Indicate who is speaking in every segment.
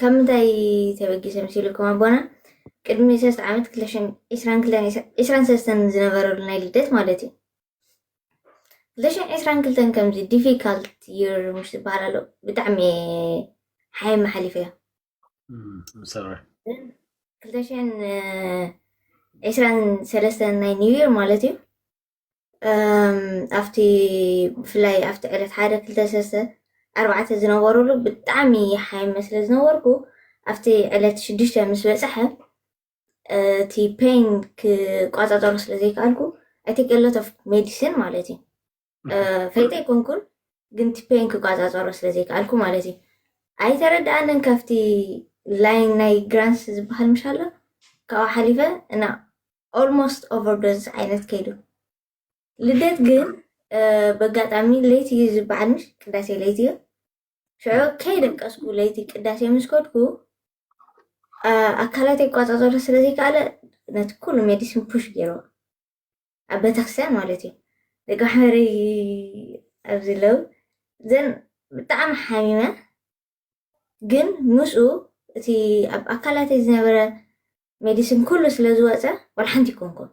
Speaker 1: ካብ ምንታይ ተበጊሶም ሲልኩም ኣቦና ቅድሚ ሰለስተ ዓመት ክለሽን ዒስራን ክለን ዒስራን ሰለስተን ዝነበረሉ ናይ ልደት ማለት እዩ ክለሽን ዒስራን ክልተን ከምዚ ዲፊካልት ይር ምሽ ዝበሃል ኣሎ ብጣዕሚ ሓይ መሓሊፈ እዮ
Speaker 2: ክልተሽን
Speaker 1: ዒስራን ሰለስተን ናይ ኒው ይር ማለት እዩ ኣብቲ ብፍላይ ኣብቲ ዕለት ሓደ ክልተ ሰሰ ኣርባዕተ ዝነበሩሉ ብጣዕሚ ሓይመ ስለ ዝነበርኩ ኣብቲ ዕለት ሽዱሽተ ምስ በፅሐ እቲ ፔን ክቋፃፀሮ ስለ ዘይከኣልኩ ኣይ ቴክ ሎት ኦፍ ሜዲሲን ማለት እዩ ፈይጠ ኣይኮንኩን ግን እቲ ፔን ክቋፃፀሮ ስለ ዘይከኣልኩ ማለት እዩ ኣይተረድኣንን ካብቲ ላይን ናይ ግራንስ ዝበሃል ምሻሎ ካብኡ ሓሊፈ እና ኦልሞስት ኦቨርዶዝ ዓይነት ከይዱ ልደት ግን በጋጣሚ ለይቲ እዩ ዝበዓል ምሽ ቅዳሴ ለይቲ እዩ ሽዑ ከይደቀስኩ ለይቲ ቅዳሴ ምስ ከድኩ ኣካላት ይቋፃፀሩ ስለዘይከኣለ ነቲ ኩሉ ሜዲሲን ፑሽ ገይሩ ኣብ ቤተክርስትያን ማለት እዩ ደቂ ማሕበረይ ኣብዚ ለው ዘን ብጣዕሚ ሓሚመ ግን ምስኡ እቲ ኣብ ኣካላተይ ዝነበረ ሜዲሲን ኩሉ ስለ ዝወፀ ዋላ ሓንቲ ይኮንኩም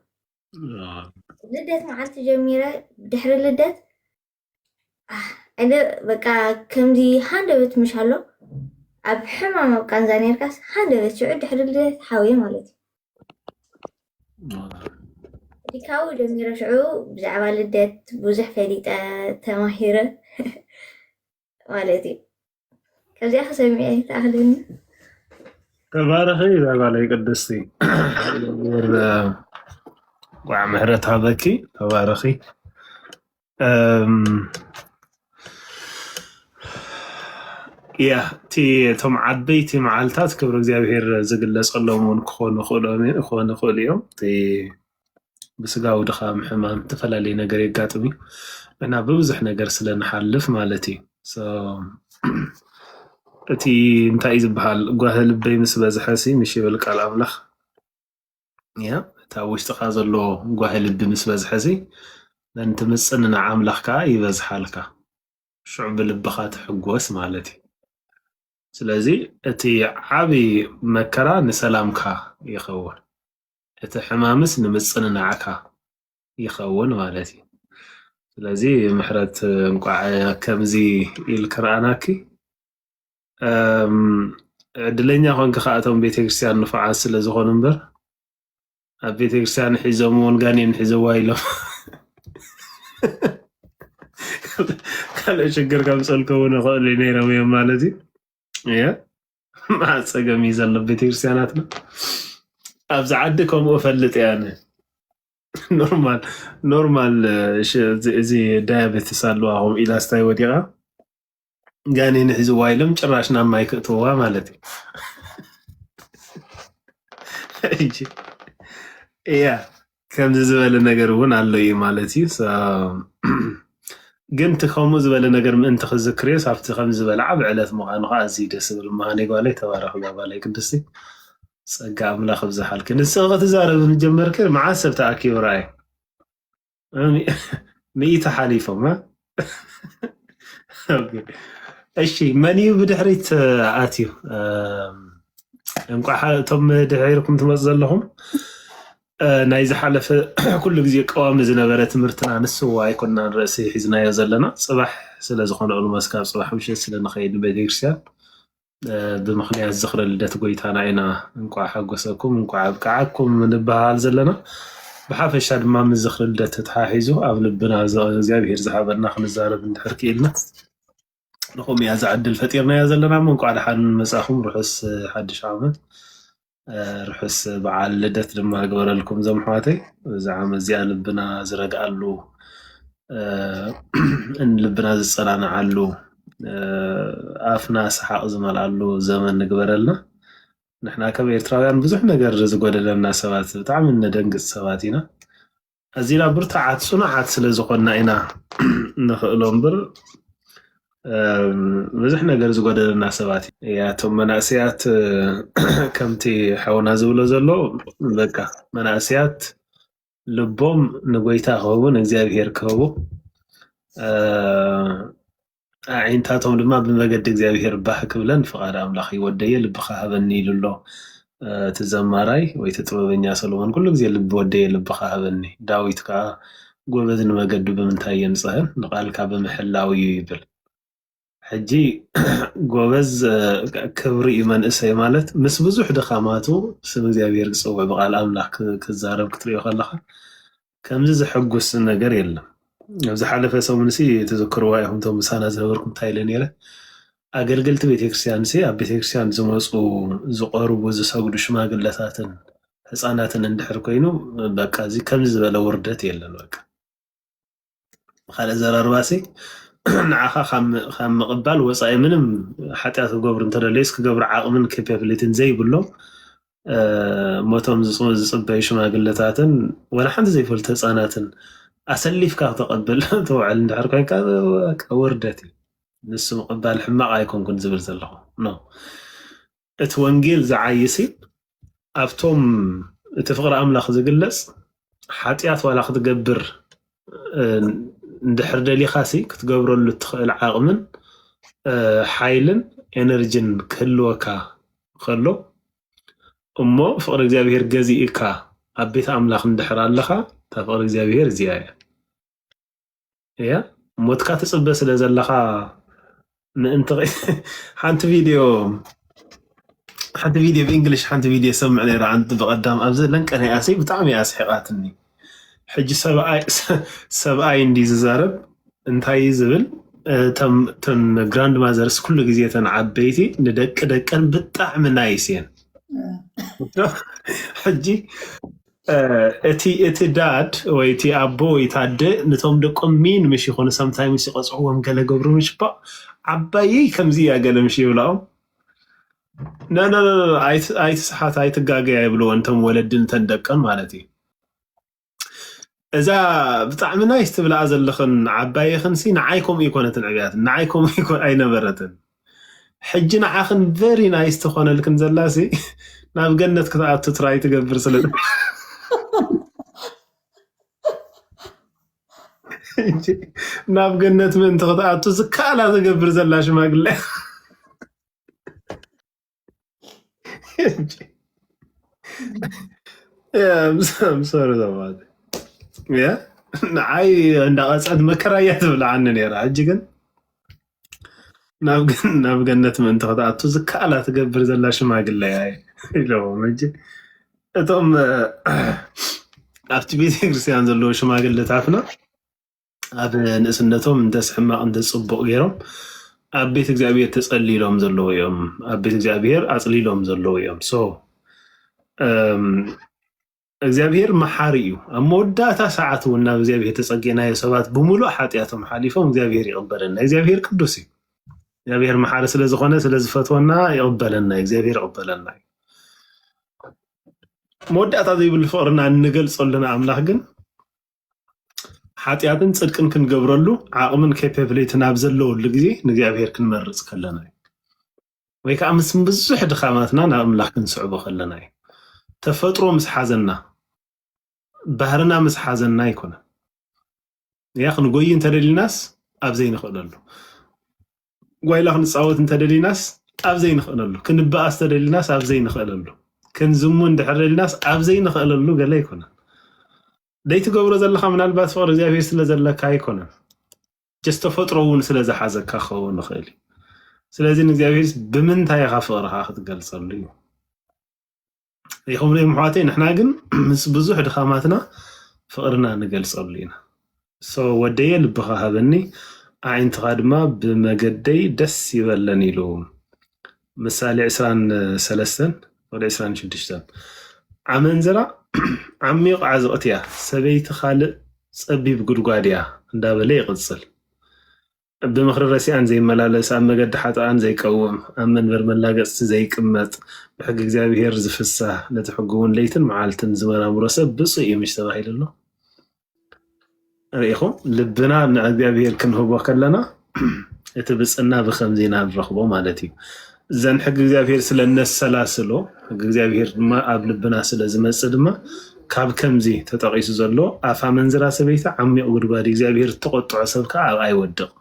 Speaker 1: ልደት መዓልቲ ጀሚረ ድሕሪ ልደት ዕገ በቃ ከምዚ ሃንደበት ምሽ ኣሎ ኣብ ሕማም ኣብ ቃንዛ ነርካስ ሃንደበት ሽዑ ድሕሪ ልደት ሓውየ ማለት እዩ ዲካዊ ጀሚረ ሽዑ ብዛዕባ ልደት ብዙሕ ፈሊጠ ተማሂረ
Speaker 2: ማለት እዩ ከዚኣ ክሰሚዐ ይተኣኽለኒ ተባረኺ ዛባለይ ቅድስቲ ቋዕ ምሕረት ሃበኪ ተባረኺ ያ እቲ እቶም ዓበይቲ መዓልታት ክብሪ እግዚኣብሄር ዝግለፀሎም እውን ክኾኑ ይኽእሉ እዮም እቲ ብስጋዊ ድኻም ሕማም እተፈላለየ ነገር የጋጥም እዩ እና ብብዙሕ ነገር ስለ ንሓልፍ ማለት እዩ እቲ እንታይ እዩ ዝበሃል ጓህ ልበይ ምስ በዝሐ ሲ ምሽ ይብል ቃል ኣምላኽ እያ እቲ ኣብ ውሽጥኻ ዘሎ ጓህ ልቢ ምስ በዝሐ ሲ ነንቲ ምፅንናዕ ኣምላኽ ከዓ ይበዝሓልካ ሽዑ ብልብኻ ትሕጎስ ማለት እዩ ስለዚ እቲ ዓብዪ መከራ ንሰላምካ ይኸውን እቲ ሕማምስ ንምጽንናዕካ ይኸውን ማለት እዩ። ስለዚ ምሕረት እንቋዕ ከምዚ ኢልኪ ረኣናኪ። ዕድለኛ ኮንኪ ከዓ እቶም ቤተክርስትያን ንፉዓት ስለ ዝኾኑ እምበር ኣብ ቤተክርስትያን ሒዞም እውን ጋኔን ሒዘዋ ኢሎም ካልእ ሽግር ከምፅእልኪ እውን ይኽእሉ ነይሮም እዮም ማለት እዩ። መዓት ጸገም እዩ ዘሎ ቤተክርስትያናትና ኣብዚ ዓዲ ከምኡ እፈልጥ እየ ኣነ ኖርማል ኖርማል እዚ ዳያቤትስ ኣለዋ ከምኡ ኢላ ስታይ ወዲቓ ጋኔን ሒዝዋ ኢሎም ጭራሽ ናብ ማይ ክእትውዋ ማለት እዩ እያ ከምዚ ዝበለ ነገር እውን ኣሎ እዩ ማለት እዩ So፣ ግን እቲ ከምኡ ዝበለ ነገር ምእንቲ ክዝክርዮስ ኣብቲ ከምዚ ዝበለ ዓቢ ዕለት ምዃኑ ከዓ ኣዝዩ እዩ ደስ ዝብል ምሃነይ ጓለይ ተባረኺ እዛ ጓለይ ቅድስቲ ጸጋ ኣምላኽ ይብዝሓልኪ ንስኺ ክትዛረቢ ምስ ጀመርኪ መዓስ ሰብ ተኣኪቡ ረኣየ እም- ሚእቲ ሓሊፎም እ? እሺ መን እዩ ብድሕሪት ኣትዩ? እንቋዕ እቶም ድሒርኩም ትመፁ ዘለኹም ናይ ዝሓለፈ ኩሉ ግዜ ቀዋሚ ዝነበረ ትምህርትና ንሱ ኣይኮና ርእሲ ሒዝናዮ ዘለና ፅባሕ ስለዝኾነ ኦልሞስ ካብ ፅባሕ ምሸት ስለንኸይድ ንቤተክርስትያን ብምኽንያት ዝኽረ ልደት ጎይታና ኢና እንቋዕ ሓጎሰኩም እንቋዕ ኣብቅዓኩም ንበሃል ዘለና ብሓፈሻ ድማ ምስ ዝኽሪ ልደት ተተሓሒዙ ኣብ ልብና እግዚኣብሄር ዝሃበና ክንዛረብ እንድሕር ክኢልና ንኹምያ ዝዕድል ፈጢርናያ ዘለና እሞ እንቋዕ ደሓን መጻኹም ርሑስ ሓድሽ ዓመት ርሑስ በዓል ልደት ድማ ግበረልኩም ዞም ኣሕዋተይ እዚ ዓመት እዚኣ ልብና ዝረግኣሉ ልብና ዝፀናንዓሉ ኣፍና ሰሓቕ ዝመልኣሉ ዘመን ንግበረልና ንሕና ከም ኤርትራውያን ብዙሕ ነገር ዝጎደለና ሰባት ብጣዕሚ እነደንግፅ ሰባት ኢና ኣዚና ብርቱዓት ጽኑዓት ስለ ዝኾንና ኢና ንኽእሎ እምበር ብዙሕ ነገር ዝጎደለና ሰባት እያ እቶም መናእሰያት ከምቲ ሓውና ዝብሎ ዘሎ በቃ መናእሰያት ልቦም ንጎይታ ክህቡ ንእግዚኣብሄር ክህቡ ኣዒንታቶም ድማ ብመገዲ እግዚኣብሄር ባህ ክብለን ፍቓድ ኣምላኽ እዩ። ወደየ ልብኻ ሃበኒ ኢሉ ኣሎ እቲ ዘማራይ ወይ እቲ ጥበበኛ ሰሎሞን ኩሉ ግዜ ልቢ ወደየ ልብኻ ሃበኒ። ዳዊት ከኣ ጎበዝ ንመገዱ ብምንታይ የንጽህን ንቓልካ ብምሕላው እዩ ይብል። ሕጂ ጎበዝ ክብሪ እዩ መንእሰይ ማለት ምስ ብዙሕ ድኻማቱ ስም እግዚኣብሄር ክጽውዕ ብቃል ኣምላኽ ክዛረብ ክትሪኦ ከለኻ ከምዚ ዘሐጉስ ነገር የለን ኣብ ዝሓለፈ ሰሙንሲ ትዝክርዋ ኢኹም እቶም ምሳና ዝነበርኩም እንታይ ኢለ ነይረ ኣገልገልቲ ቤተክርስትያንሲ ኣብ ቤተክርስትያን ዝመፁ ዝቐርቡ ዝሰግዱ ሽማግለታትን ህፃናትን እንድሕር ኮይኑ በቃ እዚ ከምዚ ዝበለ ውርደት የለን በቃ ብካልእ ዘረርባሲ ንዓኻ ካብ ምቕባል ወፃኢ ምንም ሓጢኣት ክገብሩ እንተደለዩስ ክገብሩ ዓቕምን ኬፐብሊቲን ዘይብሎም ሞቶም ዝፅበዩ ሽማግለታትን ወላ ሓንቲ ዘይፈልጡ ህፃናትን ኣሰሊፍካ ክተቐብል ተውዕል እንድሕር ኮይንካ ውርደት እዩ ንሱ ምቕባል ሕማቕ ኣይኮንኩን ዝብል ዘለኹ እቲ ወንጌል ዝዓይሲ ኣብቶም እቲ ፍቕሪ ኣምላኽ ዝግለፅ ሓጢኣት ዋላ ክትገብር እንድሕር ደሊኻ ሲ ክትገብረሉ እትኽእል ዓቕምን ሓይልን ኤነርጅን ክህልወካ ከሎ እሞ ፍቕሪ እግዚኣብሄር ገዚእካ ኣብ ቤት ኣምላኽ እንድሕር ኣለኻ እታ ፍቕሪ እግዚኣብሄር እዚኣ እያ። እያ ሞትካ ትፅበ ስለ ዘለካ ምእንቲ ሓንቲ ቪድዮ ሓንቲ ቪድዮ ብእንግሊሽ ሓንቲ ቪድዮ ሰምዕ ነይረ ኣንቲ ብቐዳም ኣብ ዘለን ቀኒኣሲ ብጣዕሚ እያ ስሒቓትኒ ሕጂ ሰብኣይ እንዲ ዝዛረብ እንታይ ዝብል ተን ግራንድ ማዘርስ ኩሉ ግዜ ተን ዓበይቲ ንደቂ ደቀን ብጣዕሚ ናይስ እየን ሕጂ እቲ እቲ ዳድ ወይ እቲ ኣቦ ወይ እቲ ኣደ ንቶም ደቆም ሚን ምሽ ይኾኑ ሰምታይምስ ይቐጽዕዎም ገለ ገብሩ ምሽ ባ ዓባየይ ከምዚ እያ ገለ ምሽ ይብላኦም ነነነነ ኣይትስሓት ኣይትጋገያ ይብልወን እቶም ወለዲ ንተን ደቀን ማለት እዩ እዛ ብጣዕሚ ናይስ ትብልኣ ዘለኽን ዓባየኽንሲ ንዓይ ከምኡ ኣይኮነትን ዕብያት ንዓይ ከምኡ ኣይነበረትን ሕጂ ንዓኽን ቨሪ ናይስ ትኾነልክን ዘላሲ ናብ ገነት ክትኣቱ ትራይ ትገብር ስለ ናብ ገነት ምእንቲ ክትኣቱ ዝከኣላ ትገብር ዘላ ሽማግለ ምሰሩ ዘማት ንዓይ እንዳቐፀት መከራ እያ ትብልዓኒ ነይራ ሕጂ ግን ናብ ገነት ምእንቲ ክትኣቱ ዝከኣላ ትገብር ዘላ ሽማግለ እያ ኢለዎም ሕጂ እቶም ኣብቲ ቤተክርስትያን ዘለዎ ሽማግለታትና ኣብ ንእስነቶም እንተስ ሕማቕ እንተስ ጽቡቕ ገይሮም ኣብ ቤት እግዚኣብሔር ተጸሊሎም ዘለዉ እዮም ኣብ ቤት እግዚኣብሔር ኣጽሊሎም ዘለዉ እዮም ሶ እም፣ እግዚኣብሔር መሓሪ እዩ ኣብ መወዳእታ ሰዓት እውን ናብ እግዚኣብሔር ተጸጊዕናዮ ሰባት ብምሉእ ሓጢኣቶም ሓሊፎም እግዚኣብሔር ይቕበለና እግዚኣብሔር ቅዱስ እዩ እግዚኣብሔር መሓሪ ስለ ዝኾነ ስለ ዝፈትወና ይቕበለና እዩ። እግዚኣብሔር ይቕበለና እዩ መወዳእታ ዘይብሉ ፍቕርና እንገልጸሉና ኣምላኽ ግን ሓጢኣትን ጽድቅን ክንገብረሉ ዓቕምን ኬፔብሌትን ኣብ ዘለወሉ ግዜ ንእግዚኣብሄር ክንመርጽ ከለና እዩ ወይ ከዓ ምስ ብዙሕ ድኻማትና ናብ ኣምላኽ ክንስዕቦ ከለና እዩ ተፈጥሮ ምስ ሓዘና ባህርና ምስ ሓዘና ኣይኮነን እያ ክንጎይ እንተደሊናስ ኣብ ዘይንኽእለሉ ጓይላ ክንፃወት እንተደሊናስ ኣብ ዘይንኽእለሉ፣ ክንበኣስ ተደሊናስ ኣብ ዘይንኽእለሉ፣ ክንዝሙ እንድሕር ደሊናስ ኣብ ዘይንኽእለሉ ገለ ኣይኮነን። ደይትገብሮ ዘለኻ ምናልባት ፍቕሪ እግዚኣብሔር ስለ ዘለካ ኣይኮነን፣ ጀስ ተፈጥሮ እውን ስለ ዝሓዘካ ክኸውን ይኽእል እዩ። ስለዚ ንእግዚኣብሔር ብምንታይ ኢኻ ፍቕርኻ ክትገልጸሉ እዩ። ይኸብሉ እዮም ኣሕዋተይ ንሕና ግን ምስ ብዙሕ ድኻማትና ፍቕርና ንገልጸሉ ኢና ሶ ወደየ ልብኻ ሃበኒ ኣዒንትኻ ድማ ብመገደይ ደስ ይበለን ኢሉ ምሳሌ 23 ወደ 26 ኣመንዝራ ዓሚቕ ዓዝቕት እያ ሰበይቲ ካልእ ጸቢብ ጉድጓድ እያ እንዳበለ ይቕጽል ብምኽሪ ረሲኣን ዘይመላለስ፣ ኣብ መገዲ ሓጥኣን ዘይቀውም፣ ኣብ መንበር መላገጽቲ ዘይቅመጥ፣ ብሕጊ እግዚኣብሄር ዚፍሳህ፣ ነቲ ሕጉ'ውን ለይትን መዓልትን ዚመራምሮ ሰብ ብጹእ እዩ ምሽ ተባሂሉ ኣሎ። ርኢኹም፣ ልብና ንእግዚኣብሄር ክንህቦ ከለና እቲ ብጽእና ብኸምዚ ኢና ንረኽቦ ማለት እዩ። እዘን ሕጊ እግዚኣብሄር ስለ እነሰላስሎ ሕጊ እግዚኣብሄር ድማ ኣብ ልብና ስለ ዝመጽእ ድማ ካብ ከምዚ ተጠቒሱ ዘሎ ኣፍ ኣመንዝራ ሰበይቲ ዓሚቕ ጉድጓድ እዩ፣ እግዚኣብሄር እተቖጥዖ ሰብ ከኣ ኣብኣ ይወድቕ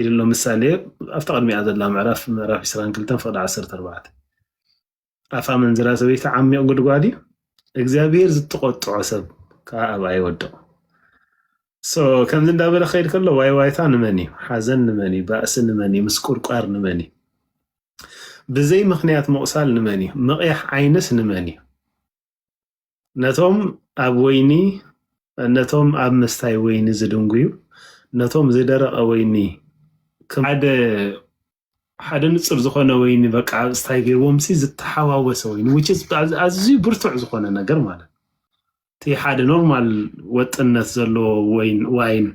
Speaker 2: ኢሉ ኣሎ። ምሳሌ ኣብታ ቅድሚኣ ዘላ ምዕራፍ ምዕራፍ 22 ፍቕዲ 14 ኣፍ ኣመንዝራ ሰበይቲ ዓሚቕ ጉድጓድ እዩ፣ እግዚኣብሄር ዝተቖጥዖ ሰብ ከኣ ኣብኣ ይወድቕ። So ከምዚ እንዳበለ ክኸይድ ከሎ ዋይ ዋይታ ንመን እዩ? ሓዘን ንመን እዩ? ባእሲ ንመን እዩ? ምስቁርቋር ንመን እዩ? ብዘይ ምክንያት ምቑሳል ንመን እዩ? ምቕያሕ ዓይንስ ንመን እዩ? ነቶም ኣብ ወይኒ ነቶም ኣብ ምስታይ ወይኒ ዝድንጉዩ ነቶም ዝደረቐ ወይኒ ሓደ ሓደ ንጹር ዝኾነ ወይኒ በቃ ኣብ ስታይ ገይርዎምሲ ዝተሓዋወሰ ወይኒ which is ኣዝ- ኣዝዩ ብርቱዕ ዝኾነ ነገር ማለት ነው። እቲ ሓደ ኖርማል ወጥነት ዘለዎ ወይን ዋይን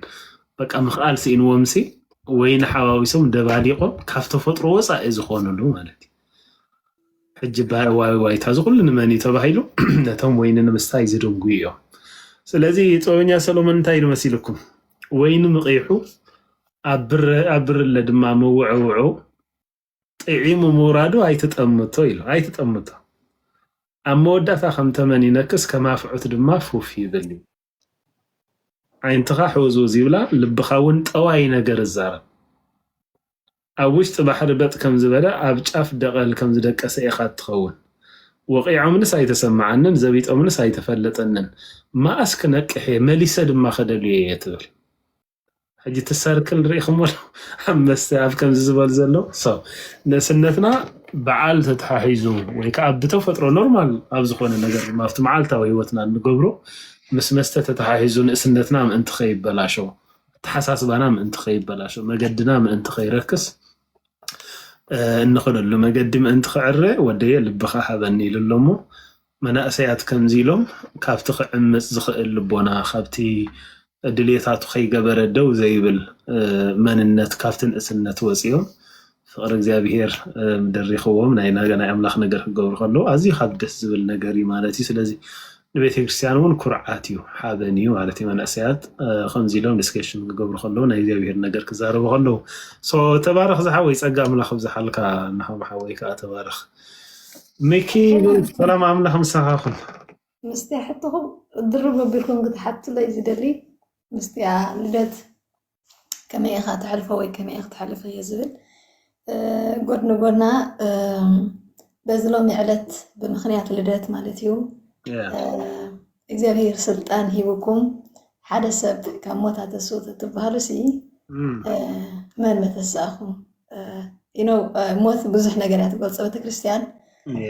Speaker 2: በቃ ምኽኣል ስኢንዎምሲ ወይኒ ሓዋዊሶም ደባሊቖም ካብ ተፈጥሮ ወፃኢ ዝኾኑሉ ማለት እዩ። ሕጂ ባይ ዋይ ዋይታ እዚ ኩሉ ንመን እዩ ተባሂሉ ነቶም ወይኒ ንምስታይ ዝድንጉዩ እዮም። ስለዚ ጥበበኛ ሰሎሞን እንታይ ኢሉ መሲልኩም ወይኒ ምቕይሑ ኣብ ብርለ ድማ ምውዕውዑ ጥዒሙ ምውራዱ ኣይትጠምቶ ኢሉ። ኣይትጠምቶ። ኣብ መወዳእታ ከም ተመን ይነክስ፣ ከም ኣፍዑት ድማ ፉፍ ይብል እዩ። ዓይንትኻ ሕውዝውዝ ይብላ፣ ልብኻ እውን ጠዋይ ነገር እዛረብ። ኣብ ውሽጢ ባሕሪ በጥ ከም ዝበለ ኣብ ጫፍ ደቐል ከም ዝደቀሰ ኢኻ እትኸውን። ወቒዖምንስ ኣይተሰምዓንን፣ ዘቢጦምንስ ኣይተፈለጠንን። መኣስ ክነቅሕ እየ፣ መሊሰ ድማ ከደልዮ እየ ትብል። ሕጂ እቲ ሰርክል ርኢኹሞ ዶ ኣብ መስተ ኣብ ከምዚ ዝበል ዘሎ ሰው ንእስነትና በዓል ተተሓሒዙ ወይ ከዓ ብተፈጥሮ ኖርማል ኣብ ዝኾነ ነገር ድማ ኣብቲ መዓልታዊ ህይወትና እንገብሮ ምስ መስተ ተተሓሒዙ ንእስነትና ምእንቲ ከይበላሾ ኣተሓሳስባና ምእንቲ ከይበላሾ መገድና ምእንቲ ከይረክስ እንኸደሉ መገዲ ምእንቲ ክዕረ ወደየ ልብኻ ሃበኒ ኢሉ ኣሎ እሞ መናእሰያት ከምዚ ኢሎም ካብቲ ክዕምጽ ዝኽእል ልቦና፣ ካብቲ ድልየታቱ ከይገበረ ደው ዘይብል መንነት፣ ካብቲ ንእስነት ወጺኦም ፍቕሪ እግዚኣብሄር ደሪኽዎም ናይ ኣምላኽ ነገር ክገብሩ ከለዉ ኣዝዩ ካብ ደስ ዝብል ነገር እዩ ማለት እዩ። ስለዚ ንቤተክርስትያን እውን ኩርዓት እዩ፣ ሓበን እዩ ማለት እዩ። መናእሰያት ከምዚ ኢሎም ዲስከሽን ክገብሩ ከለዉ ናይ እግዚኣብሄር ነገር ክዛረቡ ከለዉ። ሶ ተባረኽ ዝሓወይ ጸጋ ኣምላኽ ኣብዝሓልካ ንሃም ሓወይ ከኣ ተባረኽ። ሚኪ ሰላም ኣምላኽ ምሳኻ ይኹን። ምስቲ
Speaker 3: ሕቶኹም ድርብ ኣቢልኩም ክትሓቱለይ ዝደሊ ምስቲያ ልደት ከመይ ኢኻ ተሕልፎ ወይ ከመይ ኢኽ ተሕልፎ እየ ዝብል ጎድ ንጎድና በዚ ሎሚ ዕለት ብምክንያት ልደት ማለት እዩ እግዚኣብሄር ስልጣን ሂቡኩም ሓደ ሰብ ካብ ሞት ኣተስኡ ተትበሃሉሲ መን መተስኣኹም? ሞት ብዙሕ ነገር እያ ትገልፆ ቤተክርስትያን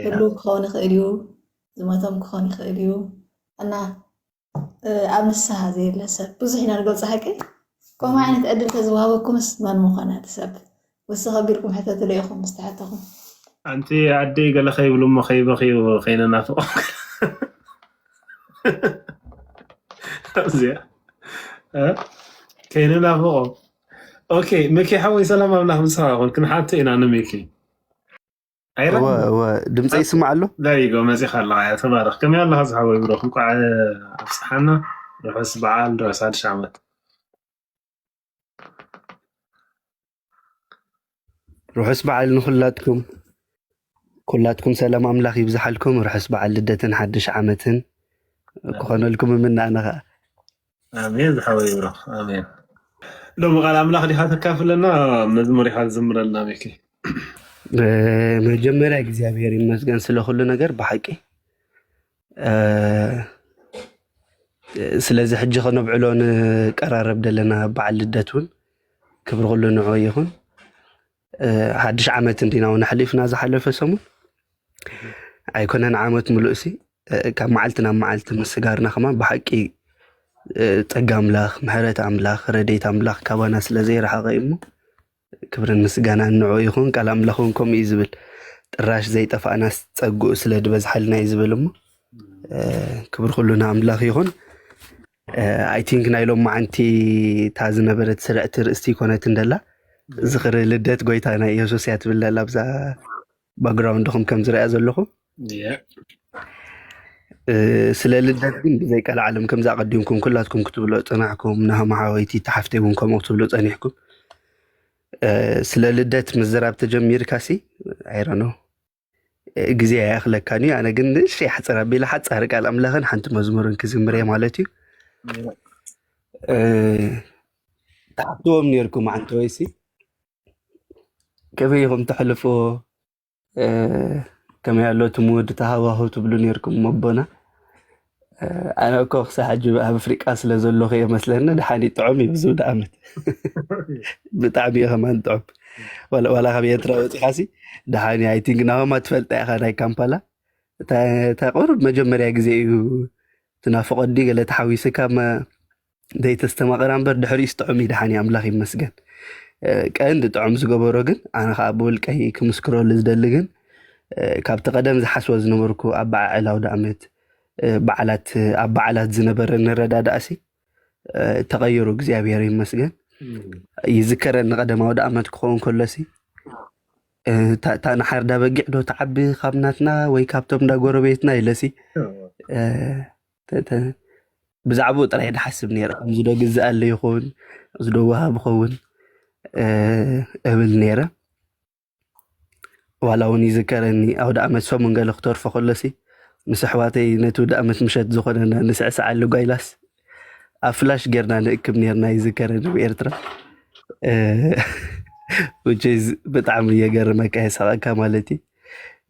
Speaker 3: ህሉ ክኸውን ይኽእል እዩ፣ ዝሞቶም ክኾን ይኽእል እዩ እና ኣብ ንስሓ ዘየለ ሰብ ብዙሕ ኢና ንገልፆ ሓቂ ከምኡ ዓይነት ዕድል ተዝወሃበኩምስ መን ምኾነ እቲ ሰብ ወሰኽ ኣቢልኩም
Speaker 2: ሕተቱለይ ኢኹም ምስ ተሓተኹም። ኣንቲ ኣደይ ገለ ከይብሉ እሞ ከይበኽዩ ከይነናፍቖም ኣብዚኣ ከይነናፍቖም ኦኬ ሚኪ ሓወይ ሰላም ኣምላኽ ምሳኻ ይኹን ክንሓቶ ኢና ንሚኪ
Speaker 4: ድምፂ ይስማዕ ኣሎ ዳይጎ መፂኻ ኣለካ
Speaker 2: እያ ተባረኽ ከመይ ኣለካ ዝሓወይ ብሮ እንኳዕ ኣብፅሓና ርሑስ በዓል ርሑስ ሓድሽ ዓመት
Speaker 4: ርሑስ በዓል ንኹላትኩም ኩላትኩም ሰላም ኣምላኽ ይብዝሓልኩም። ርሑስ በዓል ልደትን ሓድሽ ዓመትን ክኾነልኩም እምነ ኣነ ከዓ ኣሜን
Speaker 2: ዝሓወይ ብሮ ኣሜን። ሎሚ ቃል ኣምላኽ ዲኻ ተካፍለና መዝሙር ኢኻ ዝዝምረልና ሚኪ። መጀመርያ
Speaker 4: እግዚኣብሔር ይመስገን ስለ ኩሉ ነገር ብሓቂ ስለዚ ሕጂ ከነብዕሎ ንቀራረብ ዘለና በዓል ልደት እውን ክብሪ ኩሉ ንዑ ይኹን። ሓድሽ ዓመት እንዲና እውን ኣሕሊፍና ዝሓለፈ ሰሙን ኣይኮነን ዓመት ምሉእ ሲ ካብ መዓልቲ ናብ መዓልቲ ምስጋርና ከማ ብሓቂ ጸጋ ኣምላኽ ምሕረት ኣምላኽ ረዴት ኣምላኽ ካባና ስለ ዘይረሓቐ እዩ እሞ ክብርን ምስጋናን ንዕኡ ይኹን ቃል ኣምላኽ ውን ከምኡ እዩ ዝብል ጥራሽ ዘይጠፋእናስ ጸግኡ ስለ ድበዝሓልና እዩ ዝብል እሞ ክብር ኩሉ ንኣምላኽ ይኹን ኣይ ቲንክ ናይ ሎም መዓንቲ እታ ዝነበረት ስርዕቲ ርእስቲ ይኮነት እንደላ ዝኽሪ ልደት ጎይታና ኢየሱስ እያ ትብል ደላ ብዛ ባግራውንድኹም ከም ዝረኣ ዘለኹ ስለ ልደት ግን ብዘይ ቀልዓለም ከምዚ ኣቐዲምኩም ኩላትኩም ክትብሎ ፅናሕኩም ንሃማሓወይቲ ተሓፍተይ እውን ከምኡ ክትብሉ ፀኒሕኩም ስለ ልደት ምዝራብ ተጀሚርካ ሲ ኣይረኖ ግዜ ኣይኣኽለካን እዩ ኣነ ግን እሺ ሓፅር ኣቢለ ሓፃሪ ቃል ኣምላኽን ሓንቲ መዝሙርን ክዝምር እየ ማለት እዩ ተሓፍትዎም ነርኩም ዓንተወይሲ ከመይ ኢኹም ተሕልፍዎ ከመይ ኣሎ እቲ መወድታ ሃዋህው ትብሉ ነርኩም ኣቦና ኣነ እኮ ክሳብ ሕጂ ኣብ ኣፍሪቃ ስለ ዘለኹ እየ መስለኒ ድሓኒ ጥዑም እዩ ዝውዳ ዓመት ብጣዕሚ እዩ ከማን ጥዑም ዋላ ዋላ ካብ ኤርትራ ወፂኻሲ ድሓኒ ኣይ ቲንክ ናሆማ ትፈልጣ ኢኻ ናይ ካምፓላ እታ እታ ቁሩብ መጀመርያ ግዜ እዩ ትናፍቆ ዲ ገለ ተሓዊስካ መ- ዘይተስተማቐራ እምበር ድሕሪኡስ ጥዑም እዩ ደሓን እዩ ኣምላኽ ይመስገን ቀንዲ ጥዑም ዝገበሮ ግን ኣነ ከዓ ብውልቀይ ክምስክረሉ ዝደሊ ግን ካብቲ ቀደም ዝሓስቦ ዝነበርኩ ኣብ በዓዕል ኣውደ ኣመት በዓላት ኣብ በዓላት ዝነበረ ንረዳዳእሲ ተቐይሩ እግዚኣብሔር ይመስገን ይዝከረኒ ቀደም ኣውደ ኣመት ክኸውን ከሎሲ እታ ንሓርዳ በጊዕ ዶ ተዓቢ ካብ ናትና ወይ ካብቶም እንዳ ጎረቤትና ኢለሲ ብዛዕባኡ ጥራይ ድሓስብ ነይረ እዚ ዶ ግዝኣለ ይኸውን እዚ ዶ ወሃብ ይኸውን እብል ነይረ ዋላ እውን ይዝከረኒ ኣውደ ኣመት ሰሙን ገለ ክተርፎ ከሎሲ ምስ ኣሕዋተይ ነቲ ውደ ኣመት ምሸት ዝኾነና ንስዕስዓሉ ጓይላስ ኣብ ፍላሽ ጌርና ንእክብ ነርና ይዝከረኒ ኣብ ኤርትራ ውጭዝ ብጣዕሚ እየገርመካ የሳቐካ ማለት እዩ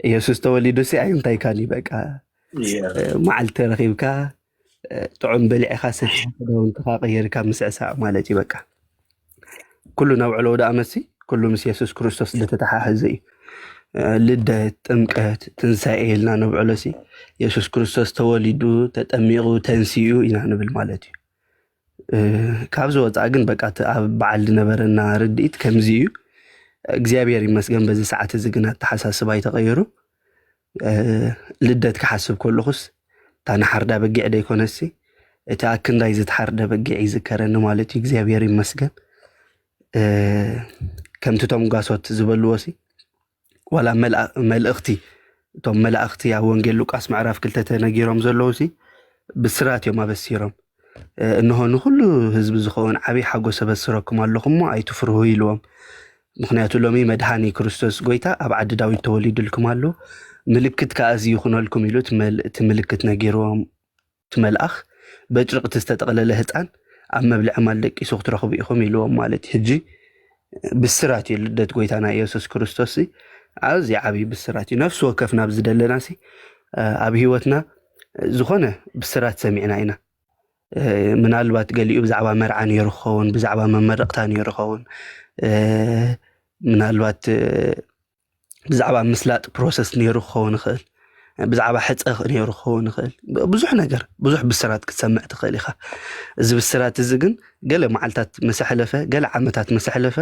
Speaker 4: ኢየሱስ ተወሊዱሲ ኣይ እንታይካን እዩ በቃ መዓልቲ ተረኺብካ ጥዑም በሊዕኻ ሰቲኻ ክዳውንትኻ ቀይርካ ምስዕሳዕ ማለት እዩ በቃ ኩሉ ናብ ዕሎ ወደ ኣመሲ ኩሉ ምስ የሱስ ክርስቶስ ዝተተሓሓዘ እዩ ልደት ጥምቀት ትንሳኤ ኢልና ነብዕሎ ሲ የሱስ ክርስቶስ ተወሊዱ ተጠሚቑ ተንሲኡ ኢና ንብል ማለት እዩ ካብዚ ወፃኢ ግን በቃ እቲ ኣብ በዓል ዝነበረና ርድኢት ከምዚ እዩ። እግዚኣብሔር ይመስገን በዚ ሰዓት እዚ ግን ኣተሓሳስባ ይተቐየሩ ልደት ክሓስብ ከለኹስ እታ ንሓርዳ በጊዕ ደይኮነሲ እቲ ኣክንዳይ ዝተሓርደ በጊዕ ይዝከረኒ ማለት እዩ እግዚኣብሔር ይመስገን ከምቲ ቶም ጓሶት ዝበልዎሲ ዋላ መልእኽቲ እቶም መላእኽቲ ኣብ ወንጌል ሉቃስ ምዕራፍ ክልተ ተነጊሮም ዘለዉ ሲ ብስራት እዮም ኣበሲሮም እንሆ ንኹሉ ህዝቢ ዝኸውን ዓብዪ ሓጎስ ኣበስረኩም ኣለኹም እሞ ኣይትፍርሁ ኢልዎም ምክንያቱ ሎሚ መድሃኒ ክርስቶስ ጎይታ ኣብ ዓዲ ዳዊት ተወሊዱልኩም ኣሎ ምልክት ከዓ እዚ ይኹነልኩም ኢሉ እቲ ምልክት ነጊርዎም እቲ መልኣኽ በጭርቕቲ ዝተጠቕለለ ህጻን ኣብ መብልዒ ማል ደቂሱ ክትረኽቡ ኢኹም ኢልዎም ማለት እዩ። ሕጂ ብስራት እዩ ልደት ጎይታና ኢየሱስ ክርስቶስ ኣዝዩ ዓብይ ብስራት እዩ። ነፍሲ ወከፍ ናብ ዝደለና ሲ ኣብ ህይወትና ዝኾነ ብስራት ሰሚዕና ኢና። ምናልባት ገሊኡ ብዛዕባ መርዓ ነይሩ ክኸውን፣ ብዛዕባ መመረቕታ ነይሩ ክኸውን፣ ምናልባት ብዛዕባ ምስላጥ ፕሮሰስ ነይሩ ክኸውን ይኽእል ብዛዕባ ሕፀ ነይሩ ክኸውን ይኽእል ብዙሕ ነገር ብዙሕ ብስራት ክትሰምዕ ትኽእል ኢኻ እዚ ብስራት እዚ ግን ገለ መዓልታት ምስ ኣሕለፈ ገለ ዓመታት ምስ ኣሕለፈ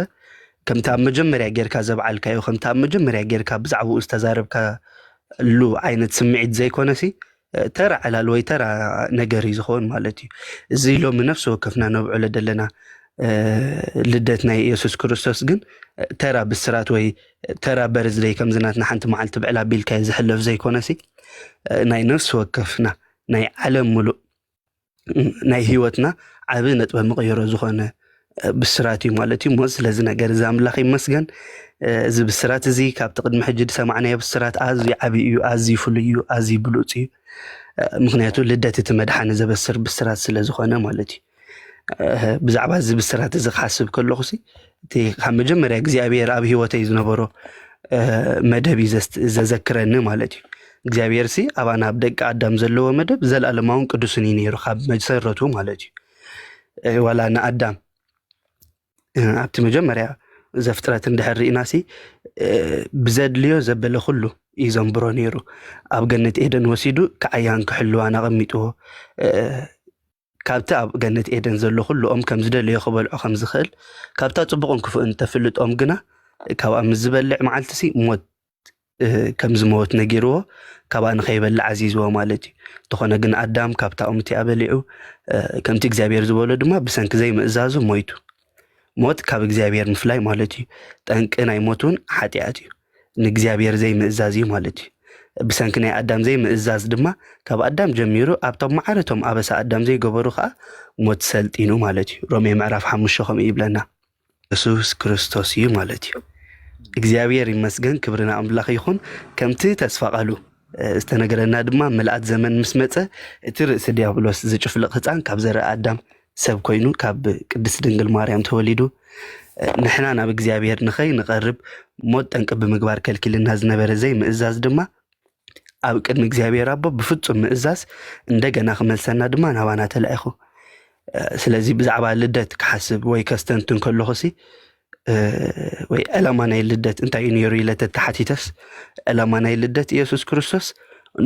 Speaker 4: ከምቲ ኣብ መጀመርያ ጌርካ ዘብዓልካዮ ከምቲ ኣብ መጀመርያ ጌርካ ብዛዕባኡ ዝተዛረብካሉ ዓይነት ስምዒት ዘይኮነሲ ተራ ዕላል ወይ ተራ ነገር እዩ ዝኸውን ማለት እዩ እዚ ሎሚ ነፍሲ ወከፍና ነብዕሎ ዘለና ልደት ናይ ኢየሱስ ክርስቶስ ግን ተራ ብስራት ወይ ተራ በርዝደይ ከምዝናትና ሓንቲ መዓልቲ ብዕላ ቢልካዮ ዝሕለፍ ዘይኮነሲ ናይ ነፍሲ ወከፍና ናይ ዓለም ሙሉእ ናይ ህይወትና ዓብ ነጥበ መቐየሮ ዝኾነ ብስራት እዩ ማለት እዩ እሞ ስለዚ ነገር እዚ ኣምላኽ ይመስገን እዚ ብስራት እዚ ካብቲ ቅድሚ ሕጂ ዝሰማዕናዮ ብስራት ኣዝዩ ዓብ እዩ ኣዝዩ ፍሉይ እዩ ኣዝዩ ብሉፅ እዩ ምክንያቱ ልደት እቲ መድሓኒ ዘበስር ብስራት ስለ ዝኾነ ማለት እዩ ብዛዕባ እዚ ብስራት እዚ ክሓስብ ከለኹ እቲ ካብ መጀመርያ እግዚኣብሔር ኣብ ህይወተይ ዝነበሮ መደብ እዩ ዘዘክረኒ ማለት እዩ እግዚኣብሔር ሲ ኣባና ኣብ ደቂ ኣዳም ዘለዎ መደብ ዘለኣለማውን ቅዱስን እዩ ነይሩ ካብ መሰረቱ ማለት እዩ ዋላ ንኣዳም ኣብቲ መጀመርያ ዘፍጥረት እንድሕር ርኢና ሲ ብዘድልዮ ዘበለ ኩሉ እዩ ዘንብሮ ነይሩ ኣብ ገነት ኤደን ወሲዱ ክዓያን ክሕልዋን ኣቐሚጥዎ ካብቲ ኣብ ገነት ኤደን ዘሎ ዅሉ ኦም ከም ዝደለዮ ኺበልዖ ኸም ዚኽእል፣ ካብታ ጽቡቕን ክፉእን እተፍልጥ ኦም ግና፣ ካብኣ ምስ ዚበልዕ መዓልቲሲ ሞት ከም ዚመውት ነጊርዎ፣ ካብኣ ንኸይበልዕ ኣዚዝዎ ማለት እዩ። እንተዀነ ግን፣ ኣዳም ካብታ ኦም እቲኣ በሊዑ፣ ከምቲ እግዚኣብሄር ዝበሎ ድማ ብሰንኪ ዘይምእዛዙ ሞይቱ። ሞት ካብ እግዚኣብሄር ምፍላይ ማለት እዩ። ጠንቂ ናይ ሞት እውን ሓጢኣት እዩ። ንእግዚኣብሔር ዘይምእዛዝ እዩ ማለት እዩ። ብሰንኪ ናይ ኣዳም ዘይምእዛዝ ድማ ካብ ኣዳም ጀሚሩ ኣብቶም ማዕረቶም ኣበሳ ኣዳም ዘይገበሩ ከዓ ሞት ሰልጢኑ ማለት እዩ። ሮሜ ምዕራፍ ሓሙሽተ ከምኡ ይብለና። የሱስ ክርስቶስ እዩ ማለት እዩ። እግዚኣብሔር ይመስገን፣ ክብሪ ንኣምላኽ ይኹን። ከምቲ ተስፋ ቃሉ ዝተነገረና ድማ ምልኣት ዘመን ምስ መፀ እቲ ርእሲ ዲያብሎስ ዝጭፍልቕ ህፃን ካብ ዘርኢ ኣዳም ሰብ ኮይኑ ካብ ቅድስት ድንግል ማርያም ተወሊዱ ንሕና ናብ እግዚኣብሔር ንኸይንቐርብ ሞት ጠንቂ ብምግባር ከልኪልና ዝነበረ ዘይምእዛዝ ድማ ኣብ ቅድሚ እግዚኣብሔር ኣቦ ብፍጹም ምእዛዝ እንደገና ክመልሰና ድማ ናባና ተላኢኹ። ስለዚ ብዛዕባ ልደት ክሓስብ ወይ ከስተንትን ከለኹሲ ወይ ዕላማ ናይ ልደት እንታይ እዩ ነይሩ ኢለ ተተሓቲተስ ዕላማ ናይ ልደት ኢየሱስ ክርስቶስ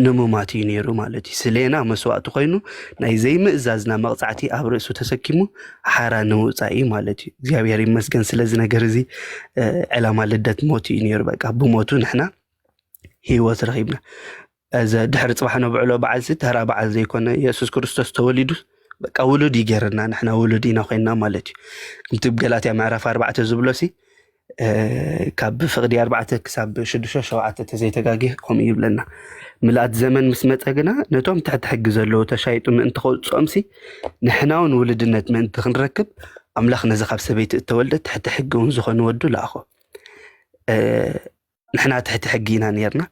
Speaker 4: ንምማት እዩ ነይሩ ማለት እዩ። ስሌና መስዋእቲ ኮይኑ ናይ ዘይምእዛዝና መቕፃዕቲ ኣብ ርእሱ ተሰኪሙ ሓራ ንምውፃእ እዩ ማለት እዩ። እግዚኣብሔር ይመስገን ስለዚ ነገር እዚ ዕላማ ልደት ሞት እዩ ነይሩ። በቃ ብሞቱ ንሕና ህይወት ረኺብና። እዘ ድሕሪ ጽባሕ ነብዕሎ በዓልሲ ተራ በዓል ዘይኮነ የሱስ ክርስቶስ ተወሊዱ በቃ ውሉድ እዩ ገይርና ንሕና ውሉድ ኢና ኮይና ማለት እዩ ከምቲ ገላትያ ምዕራፍ ኣርባዕተ ዝብሎ ሲ ካብ ፍቕዲ ኣርባዕተ ክሳብ ሽዱሽተ ሸውዓተ ተዘይተጋግየ ከምኡ ይብለና ምልኣት ዘመን ምስ መፀ ግና ነቶም ትሕቲ ሕጊ ዘለዉ ተሻይጡ ምእንቲ ከውፅኦም ሲ ንሕና እውን ውልድነት ምእንቲ ክንረክብ ኣምላኽ ነዚ ካብ ሰበይቲ እተወልደ ትሕቲ ሕጊ እውን ዝኾነ ወዱ ለኣኾ ንሕና ትሕቲ ሕጊ ኢና ነርና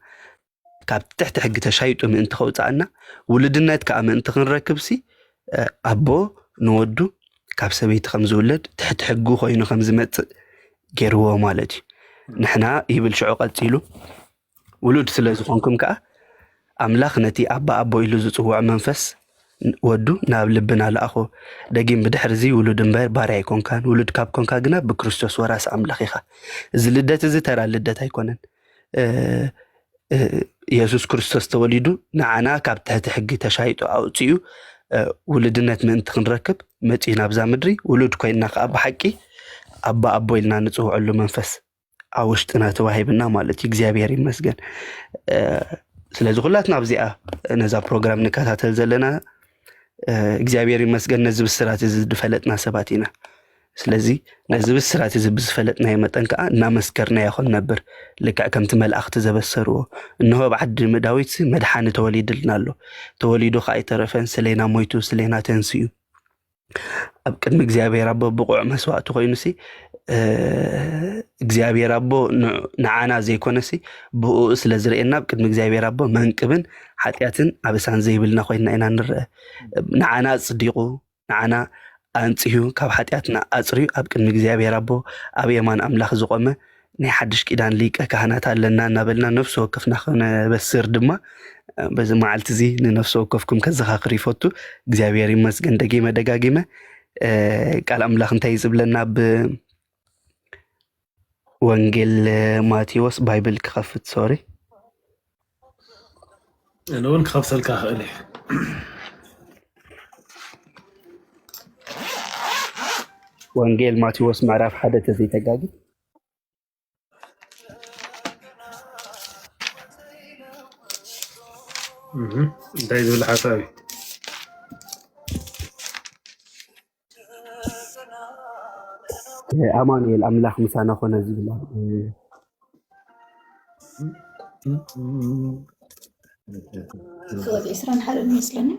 Speaker 4: ካብ ትሕቲ ሕጊ ተሻይጡ ምእንቲ ከውፃእና ውሉድነት ከዓ ምእንቲ ክንረክብሲ ኣቦ ንወዱ ካብ ሰበይቲ ከም ዝውለድ ትሕቲ ሕጉ ኮይኑ ከም ዝመፅእ ገይርዎ ማለት እዩ ንሕና ይብል ሽዑ ቀፂሉ ውሉድ ስለ ዝኾንኩም ከዓ ኣምላኽ ነቲ ኣባ ኣቦ ኢሉ ዝፅውዖ መንፈስ ወዱ ናብ ልብና ለኣኾ ደጊም ብድሕር እዚ ውሉድ እምበር ባርያ ኣይኮንካን ውሉድ ካብ ኮንካ ግና ብክርስቶስ ወራሲ ኣምላኽ ኢኻ እዚ ልደት እዚ ተራ ልደት ኣይኮነን ኢየሱስ ክርስቶስ ተወሊዱ ንዓና ካብ ትሕቲ ሕጊ ተሻይጡ ኣውፅኡ ውልድነት ምእንቲ ክንረክብ መፅኡ ናብዛ ምድሪ ውሉድ ኮይና ከዓ ብሓቂ ኣባ ኣቦ ኢልና ንፅውዐሉ መንፈስ ኣብ ውሽጥና ተዋሂብና ማለት እዩ። እግዚኣብሔር ይመስገን። ስለዚ ኩላትና ኣብዚኣ ነዛ ፕሮግራም ንከታተል ዘለና እግዚኣብሔር ይመስገን ነዚ ብስራት እዚ ዝፈለጥና ሰባት ኢና። ስለዚ ነዚ ብስራት እዚ ብዝፈለጥናዮ መጠን ከዓ እናመስከርናዮ ክንነብር ልክዕ ከምቲ መላእኽቲ ዘበሰርዎ እንሆ ኣብ ዓዲ ዳዊት መድሓኒ ተወሊድልና ኣሎ ተወሊዱ ከዓ ኣይተረፈን ስሌና ሞይቱ ስሌና ተንስኡ ኣብ ቅድሚ እግዚኣብሔር ኣቦ ብቑዕ መስዋእቲ ኮይኑሲ እግዚኣብሔር ኣቦ ንዓና ዘይኮነሲ ብኡ ስለ ዝርእየና ኣብ ቅድሚ እግዚኣብሔር ኣቦ መንቅብን ሓጢኣትን ኣበሳን ዘይብልና ኮይንና ኢና ንረአ ንዓና ኣጽዲቑ ንዓና ኣንጽሁ ካብ ሓጢኣትና ኣጽርዩ ኣብ ቅድሚ እግዚኣብሔር ኣቦ ኣብ የማን ኣምላኽ ዝቆመ ናይ ሓድሽ ኪዳን ሊቀ ካህናት ኣለና እናበልና ነፍሲ ወከፍና ክነበስር ድማ በዚ መዓልቲ እዚ ንነፍሲ ወከፍኩም ከዘኻኽር ይፈቱ እግዚኣብሔር ይመስገን ደጊመ ደጋጊመ ቃል ኣምላኽ እንታይ ዝብለና ብ ወንጌል ማቴዎስ ባይብል ክኸፍት ሶሪ እነ
Speaker 2: እውን ክኸፍተልካ ክእል እዩ
Speaker 4: ወንጌል ማቴዎስ ምዕራፍ ሓደ ተዘይተጋጊ እንታይ
Speaker 2: ዝብል ሓሳብ እዩ
Speaker 4: ኣማኑኤል ኣምላኽ ምሳና ኮነ ዝብላ ሰወት ዕስራን ሓደ
Speaker 3: ይመስለኒ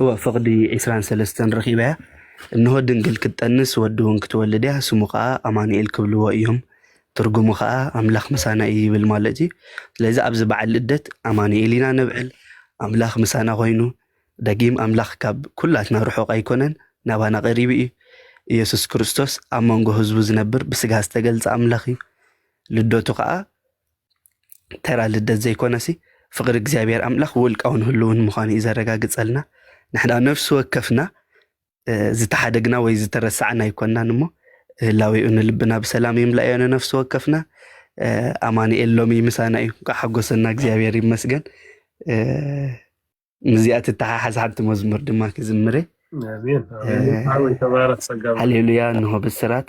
Speaker 4: እወ ፍቕዲ ዕስራን ሰለስተን ረኺበ እያ እንሆ ድንግል ክትጠንስ ወዲ እውን ክትወልድ እያ ስሙ ከዓ ኣማኑኤል ክብልዎ እዮም ትርጉሙ ከኣ ኣምላኽ ምሳና እዩ ይብል ማለት እዩ። ስለዚ ኣብዚ በዓል ልደት ኣማኑኤል ኢና ነብዕል፣ ኣምላኽ ምሳና ኮይኑ። ደጊም ኣምላኽ ካብ ኩላትና ርሑቕ ኣይኮነን፣ ናባና ቀሪቡ እዩ። ኢየሱስ ክርስቶስ ኣብ መንጎ ህዝቡ ዝነብር ብስጋ ዝተገልጸ ኣምላኽ እዩ። ልደቱ ከኣ ተራ ልደት ዘይኮነሲ ፍቕሪ እግዚኣብሔር ኣምላኽ ውልቃውን ህልውን ምዃኑ እዩ ዘረጋግጸልና። ንሕና ነፍሲ ወከፍና ዝተሓደግና ወይ ዝተረሳዕና ኣይኮናን እሞ ህላዌኡ ንልብና ብሰላም ይምላእዮ ንነፍሲ ወከፍና ኣማንኤል ሎሚ ምሳና እዩ እንኳ ሓጎሰና እግዚኣብሔር ይመስገን ምስዚኣ ትተሓሓዝ ሓንቲ መዝሙር ድማ ክዝምረ
Speaker 2: ሃሌሉያ እንሆ
Speaker 4: ብስራት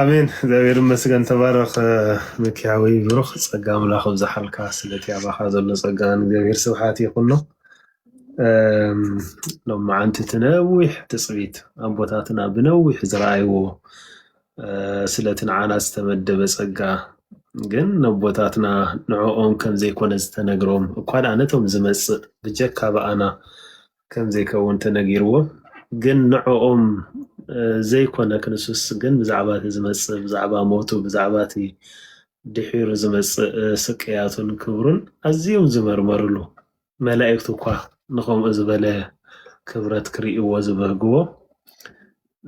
Speaker 2: ኣሜን እግዚኣብሔር ይመስገን ተባረኽ ሚኪ ሓወይ ብሩኽ ጸጋ ኣምላኽ ኣብዝሓልካ ስለቲ ኣባኻ ዘሎ ጸጋ ንእግዚኣብሔር ስብሓት ይኹኖ ሎም መዓንቲ እቲ ነዊሕ ትጽቢት ኣቦታትና ብነዊሕ ዝረኣይዎ ስለቲ ንዓና ዝተመደበ ጸጋ ግን ነቦታትና ንዕኦም ከም ዘይኮነ ዝተነግሮም እኳ ደኣ ነቶም ዝመጽእ ብጀካ ብኣና ከም ዘይከውን ተነጊርዎ ግን ንዕኦም ዘይኮነ ክንሱስ ግን ብዛዕባ እቲ ዝመጽእ ብዛዕባ ሞቱ ብዛዕባ እቲ ድሒሩ ዝመጽእ ስቅያቱን ክብሩን ኣዝዮም ዝመርመርሉ መላእክት እኳ ንኸምኡ ዝበለ ክብረት ክርእይዎ ዝበህግዎ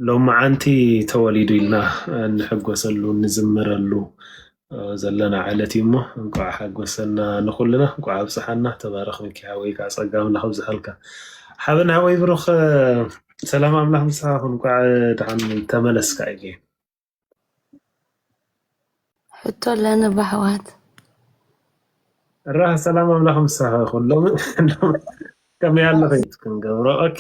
Speaker 2: ሎምዓንቲ ተወሊዱ ኢልና እንሕጎሰሉ እንዝምረሉ ዘለና ዕለት እዩ እሞ እንኳዕ ሓጎሰና ንኩልና እንኳዕ ኣብፀሐና ተባረክ ሚኪ ሓወይ ከዓ ፀጋ ኣምላክ ኣብዝሓልካ ሓበን ሓወይ ብሩክ ሰላም ኣምላክ ምሳካ ይኩን እንኳዕ ደሓን ተመለስካ እየ
Speaker 5: ሕቶ ኣለኒ በሕዋት
Speaker 2: ራህ ሰላም ኣምላኽ ምሳኻ ይኹን። ሎሚ ከመይ ኣለኺ ክንገብሮ? ኦኬ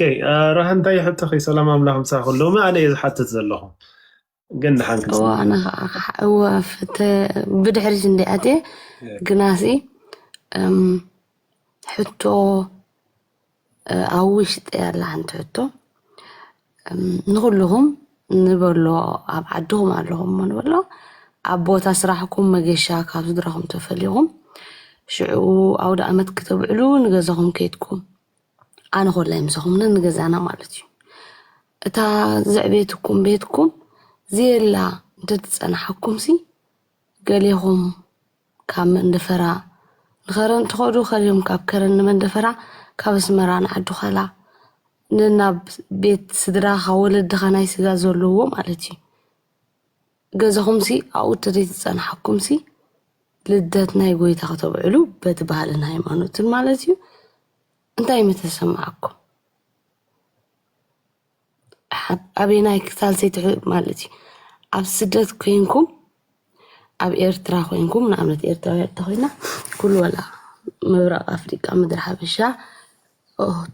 Speaker 2: ራህ እንታይ ሕቶኺ? ሰላም ኣምላኽ ምሳኻ ይኹን። ሎሚ ኣነ እየ ዝሓትት ዘለኹ ግን ድሓን እዋ ክንሰማዕ ኣነ ኢና።
Speaker 5: ከዓ እዋ ፍተ ብድሕሪት እንዲ ኣትየ ግናሲ እም፣ ሕቶ ኣብ ውሽጢ ያላ ሓንቲ ሕቶ ንኹልኹም ንበሎ ኣብ ዓድኹም ኣለኹም እሞ ንበሎ ኣብ ቦታ ስራሕኩም መገሻ ካብ ስድራኹም ተፈልኹም ሽዑ ኣውደ ኣመት ክተብዕሉ ንገዛኹም ከይድኩም ኣነ ኮላይ ምሳኹም ንገዛና ማለት እዩ እታ ዘዕቤትኩም ቤትኩም ዘየላ እንተትፀናሓኩምሲ ገሌኹም ካብ መንደፈራ ንኸረን ትኸዱ ከልዮም ካብ ከረን ንመንደፈራ ካብ ኣስመራ ንዓዱኸላ ን ናብ ቤት ስድራኻ ወለድኻ ናይ ስጋ ዘለዎ ማለት እዩ ገዘኹምሲ ኣብኡ ተደይተጸናሓኩምሲ ልደት ናይ ጎይታ ከተብዕሉ በቲ ባህልን ሃይማኖትን ማለት እዩ እንታይ ምተሰማዓኩም። ኣበየናይ ክፋል ዘይትሕ ማለት እዩ ኣብ ስደት ኮይንኩም ኣብ ኤርትራ ኮይንኩም ንኣብነት ኤርትራውያ እንተኮይና ኩሉ ወላ ምብራቅ ኣፍሪቃ ምድሪ ሓበሻ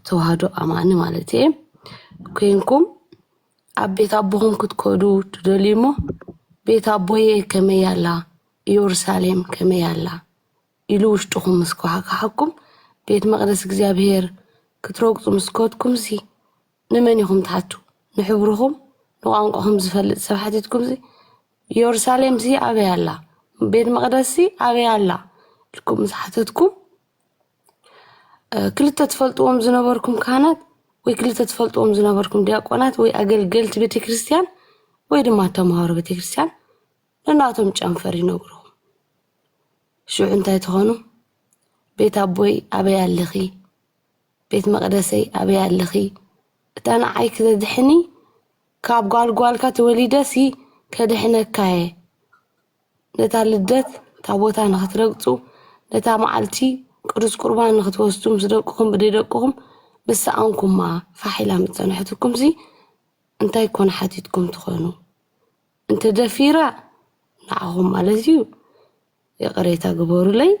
Speaker 5: ተዋህዶ ኣማኒ ማለት እየ ኮይንኩም ኣብ ቤት ኣቦኹም ክትከዱ ትደልዩ እሞ ቤት ኣቦየ ከመይ ኣላ ኢየሩሳሌም ከመይ ኣላ ኢሉ ውሽጥኹም ምስ ኮሓካሓኩም ቤት መቅደስ እግዚኣብሄር ክትረግፁ ምስ ከድኩምሲ ንመን ኢኹም ትሓቱ ንሕብርኹም ንቋንቋኹም ዝፈልጥ ሰብ ሓቲትኩምሲ ዮርሳሌምሲ ኣበይ ኣላ ቤት መቕደስሲ ኣበይ ኣላ ኢልኩም ምስ ሓተትኩም ክልተ ትፈልጥዎም ዝነበርኩም ካህናት ወይ ክልተ ትፈልጥዎም ዝነበርኩም ዲያቆናት ወይ ኣገልገልቲ ቤተ ክርስቲያን ወይ ድማ ተምሃሮ ቤተ ክርስቲያን ንናቶም ጨንፈር ይነግርኹም ሽዑ እንታይ ትኾኑ ቤት ኣቦይ ኣበይ ኣለኺ ቤት መቅደሰይ ኣበይ ኣለኺ እታ ንዓይ ክተድሕኒ ካብ ጓል ጓልካ ተወሊደሲ ከድሕነካ እየ ነታ ልደት ታቦታ ንክትረግፁ ነታ መዓልቲ ቅዱስ ቁርባን ንክትወስዱ ምስ ደቅኹም ብደይ ደቅኹም ምስ ሰኣንኩማ ፋሕ ኢላ ምስ ፀንሐትኩምሲ እንታይ ኮን ሓቲትኩም ትኾኑ እንተደፊራ ንዓኹም ማለት እዩ ይቕሬታ ግበሩለይ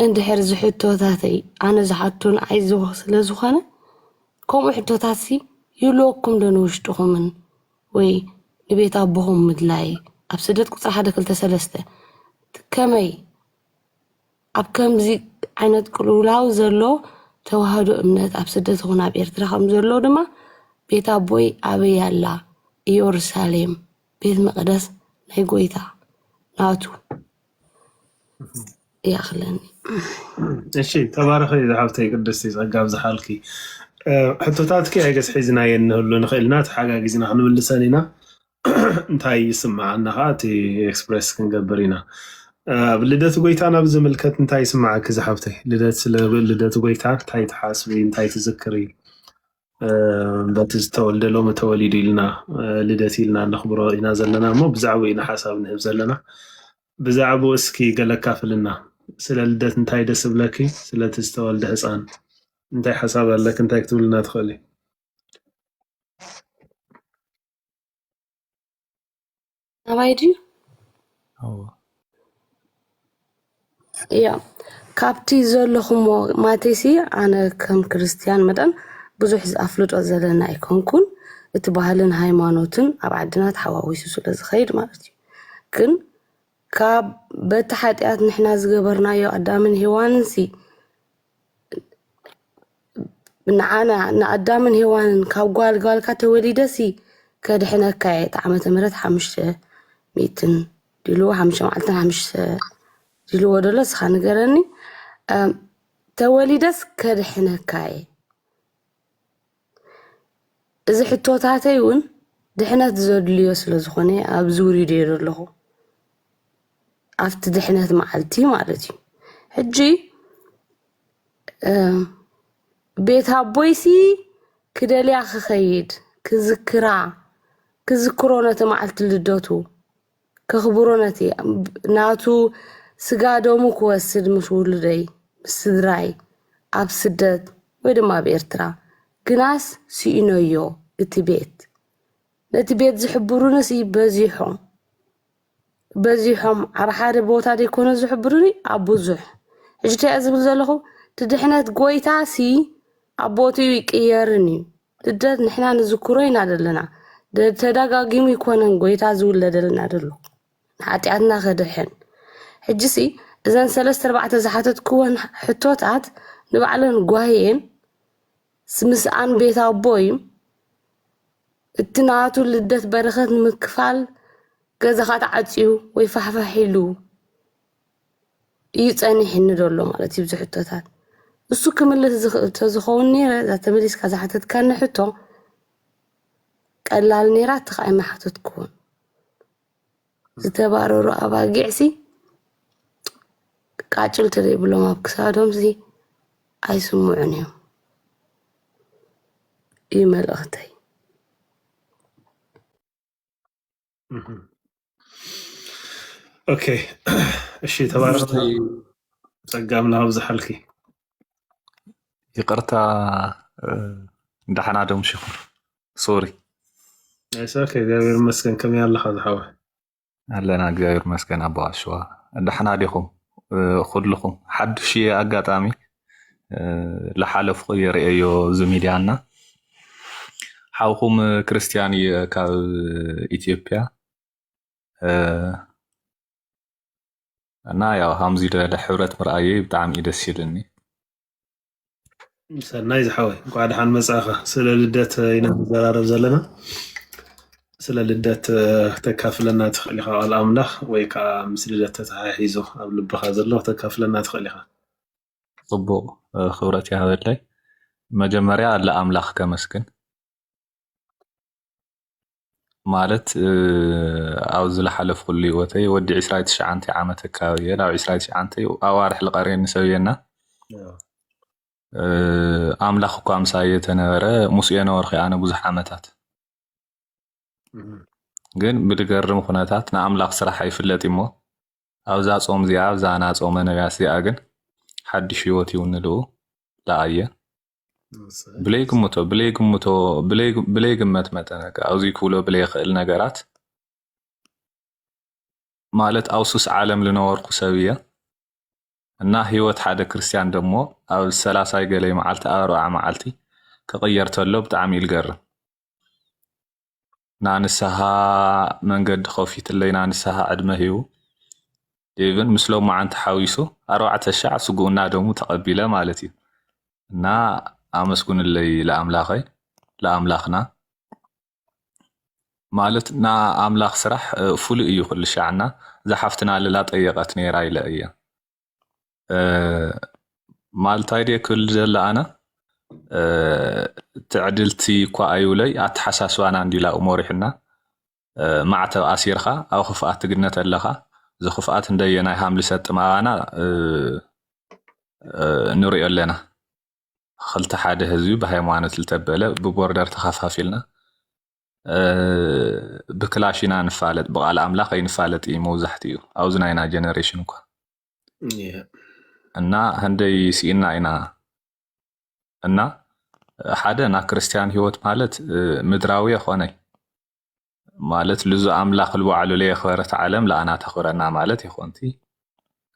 Speaker 5: እንድሕር እዚ ሕቶታተይ ኣነ ዝሓቶ ንዓይ ዝወኽ ስለ ዝኾነ ከምኡ ሕቶታትሲ ይህልወኩም ዶ ንውሽጥኹምን ወይ ንቤት ኣቦኹም ምድላይ ኣብ ስደት ቁጽሪ ሓደ ክልተ ሰለስተ ከመይ ኣብ ከምዚ ዓይነት ቅልውላው ዘሎ ተዋህዶ እምነት ኣብ ስደት ይኹን ኣብ ኤርትራ ከም ዘሎ ድማ ቤት ኣቦይ ኣበይ ኣላ ኢየሩሳሌም ቤት መቕደስ ናይ ጎይታ ናቱ ይኣኽለኒ
Speaker 2: እሺ ተባረኺ ዝሓብተይ ቅድስቲ ጸጋ ኣብዝሓልኪ እ፣ ሕቶታትኪ ኣይገስ ሒዝናየን ንህሉ ንኽእል ኢና ተሓጋጊዝና ክንምልሰን ኢና እንታይ ይስምዓና ከዓ እቲ ኤክስፕረስ ክንገብር ኢና እ፣ ኣብ ልደት ጎይታ ናብ ዝምልከት እንታይ ይስምዓኪ ዝሓብተይ ልደት ስለ ልደት ጎይታ እንታይ ትሓስቢ እንታይ ትዝክሪ በቲ ዝተወልደ ሎሚ ተወሊዱ ኢልና ልደት ኢልና ነኽብሮ ኢና ዘለና እሞ ብዛዕባኡ ኢና ሓሳብ ንህብ ዘለና ብዛዕባኡ እስኪ ገለ ካፍልና ስለ ልደት እንታይ ደስ ብለኪ ስለቲ ዝተወልደ ህፃን እንታይ ሓሳብ ኣለኪ እንታይ ክትብልና ትኽእሊ
Speaker 5: ኣባይ ድዩ ኣዎ እያ ካብቲ ዘለኹሞ ማቴሲ ኣነ ከም ክርስትያን መጠን ብዙሕ ኣፍልጦ ዘለና ኣይኮንኩን እቲ ባህልን ሃይማኖትን ኣብ ዓድና ተሓዋዊሱ ስለ ዝኸይድ ማለት እዩ ግን ካብ በቲ ሓጢኣት ንሕና ዝገበርናዮ ኣዳምን ሄዋንን ሲ ንዓና ንኣዳምን ሄዋንን ካብ ጓል ጓልካ ተወሊደ ሲ ከድሕነካ እየ እቲ ዓመተ ምህረት ሓሙሽተ ሚእትን ድልዎ ሓሙሽተ መዓልትን ሓሙሽተ ድልዎ ደሎ እስኻ ንገረኒ እም፣ ተወሊደስ ከድሕነካ እየ እዚ ሕቶታተይ እውን ድሕነት ዘድልዮ ስለ ዝኾነ እየ ኣብዚ ውሪደ እየ ዘለኹ ኣብቲ ድሕነት መዓልቲ ማለት እዩ ሕጂ ቤት ኣቦይሲ ክደልያ ክኸይድ ክዝክራ ክዝክሮ ነቲ መዓልቲ ልደቱ ከኽብሮ ነቲ ናቱ ስጋ ደሙ ክወስድ ምስ ውሉደይ ምስ ስድራይ ኣብ ስደት ወይ ድማ ኣብ ኤርትራ ግናስ ስኢነዮ እቲ ቤት ነቲ ቤት ዝሕብሩንስ በዚሖም በዚሖም ኣብ ሓደ ቦታ ዘይኮነ ዝሕብሩኒ ኣብ ብዙሕ ሕጂ እንታይ እየ ዝብል ዘለኹ እቲ ድሕነት ጎይታሲ ኣብ ቦትኡ ይቅየርን እዩ ልደት ንሕና ንዝክሮ ኢና ዘለና ደ- ተደጋጊሙ ይኮነን ጎይታ ዝውለደልና ደሎ ንሓጢኣትና ከድሕን ሕጂሲ እዘን ሰለስተ ኣርባዕተ ዝሓተትክወን ሕቶታት ንባዕለን ጓሂ እየን ምስ ኣን ቤት ኣቦ እዩ እቲ ናቱ ልደት በረከት ንምክፋል ገዛኻ ተዓፅዩ ወይ ፋሕፋሕ ኢሉ እዩ ፀኒሕኒ ዘሎ ማለት እዩ ዝሕቶታት እሱ ክምልስ ዝኽእል ተዝኸውን ነይረ እዛ ተመሊስካ ዝሓተትካኒ ሕቶ ቀላል ነይራ እቲ ከዓ ኣይመሓተትኩዎን ዝተባረሩ ኣባጊዕሲ ቃጭል ተዘይብሎም ኣብ ክሳዶምሲ ኣይስምዑን እዮም እዩ መልእኽተይ።
Speaker 2: ኦኬ እሺ፣ ተባረኽ ጸጋም ናብዝሓልኪ
Speaker 6: ይቅርታ ዳሕና ዶም ሽኹር ሶሪ
Speaker 2: እሰከ እግዚኣብሔር ይመስገን ከመይ ኣለኻ ዝሓወይ ኣለና
Speaker 6: እግዚኣብሔር ይመስገን ኣቦ ኣሸዋ ደሕና ዲኹም ኩልኹም ሓዱሽ እየ ኣጋጣሚ ዝሓለፍኩ የርእየዮ እዚ ሚድያ እና ሓውኹም ክርስቲያን እየ ካብ ኢትዮጵያ እና ያው ሃምዚ ደለ ሕብረት ምርኣየይ ብጣዕሚ እዩ ደስ ይብልኒ
Speaker 2: ሰናይ ዝሓወይ እንኳዕ ደሓን መጻእኻ። ስለ ልደት ኢና ንዘራረብ ዘለና። ስለ ልደት እ፣ ክተካፍለና ትኽእል ኢኻ ቃል ኣምላኽ ወይ ከዓ ምስ ልደት ተተሓሒዙ ኣብ ልብኻ ዘሎ ክተካፍለና ትኽእል ኢኻ። ጽቡቕ
Speaker 6: ክብረት ይሃበለይ። መጀመርያ ለኣምላኽ ከመስግን። ማለት ኣብ ዝለሓለፍኩሉ ህይወተይ ወዲ ዕስራይ ትሽዓተ ዓመት ኣከባቢ እየ ናብ ዕስራይ ትሽዓተ ኣዋርሕ ልቀርየኒ ሰብ እየና ኣምላኽ እኳ ምሳየ ተነበረ ምስ የነበርኩ ኣነ ብዙሕ ዓመታት ግን ብድገርም ኩነታት ንኣምላኽ ስራሕ ኣይፍለጥ እሞ ኣብዛ ጾም እዚኣ ኣብዛ ናጾመ ነቢያት እዚኣ ግን ሓድሽ ህይወት ይውንልኡ ደኣ እየ ብለይ ግምቶ ብለይ ግምቶ ብለይ ግመት መጠነ ኣብዚ ክብሎ ብለይ ይኽእል ነገራት ማለት ኣብ ሱስ ዓለም ልነበርኩ ሰብ እየ እና ህይወት ሓደ ክርስትያን ደሞ ኣብ ሰላሳይ ገለይ መዓልቲ ኣብ ኣርብዓ መዓልቲ ክቕየር ተሎ ብጣዕሚ ኢልገርም ናንስሃ መንገዲ ከፊትለይ ናንስሃ ዕድመ ሂቡ ኢብን ምስ ሎማዓንቲ ሓዊሱ ኣርባዕተ ሻዕ ስጉኡ እና ደሙ ተቀቢለ ማለት እዩ። እና ኣመስግኑለይ ለኣምላኸይ ለኣምላኽና ማለት ና ኣምላኽ ስራሕ ፍሉይ እዩ ኩሉ ሻዕ እና እዛ ሓፍትና ልላ ጠየቀት ነይራ ኢለ እየ። ማልታይ ድየ ክብል ዘለ ኣነ ትዕድልቲ እኳ ኣይብለይ ኣተሓሳስባና እንዲላ መሪሑና ማዕተብ ኣሲርካ ኣብ ክፍኣት ትግነት ኣለኻ እዚ ክፍኣት እንደየ ናይ ሃምሊ ሰጥማባና ንሪኦ ኣለና ክልተ ሓደ ህዝቢ ብሃይማኖት ዝተበለ ብቦርደር ተኸፋፊልና ብክላሽ ኢና ንፋለጥ ብቃል ኣምላኽ ኣይንፋለጥ እዩ መብዛሕትኡ ኣብዚ ናይና ጀነሬሽን እኳ እና ህንደይ ስኢና ኢና እና ሓደ ና ክርስትያን ህይወት ማለት ምድራዊ የኾነ ማለት ልዙ ኣምላኽ ልባዕሉ ለየኽበረት ዓለም ለኣና ተኽብረና ማለት ይኾንቲ